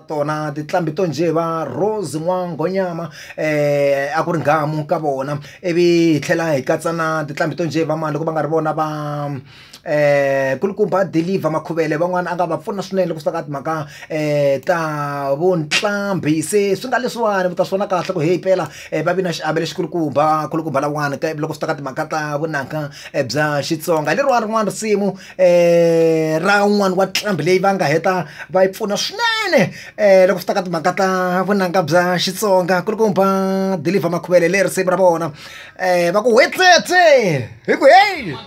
tona tinqambi to njhe va Rose N'wangonyama a ku ri nghamu ka vona ivi hi tlhela hi katsa na tinqambi to njhe va mani loko va nga ri vona va nkulukumba Dilivha Makhuvele van'wana a nga va pfuna swinene loko swi ta ka timhaka ta vuqambhi se swi nga leswiwani mi ta swi vona kahle ku heyi mpela va vi na xiave lexikulukumba nkulukumba lawani loko swi ta ka timhaka ta vunanga bya Xitsonga hi leriwani rin'wana risimu. um ra un'wana wa nqambi leyi va nga heta va yi pfuna swinene um loko swi ta ka timhaka ta vunanga bya xitsonga ku ri ku ba deliver makhuvele le risimu ra vona um va ku hwetletse hi ku heyi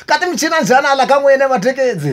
ka timichina njhani ala ka n'wina matheketsi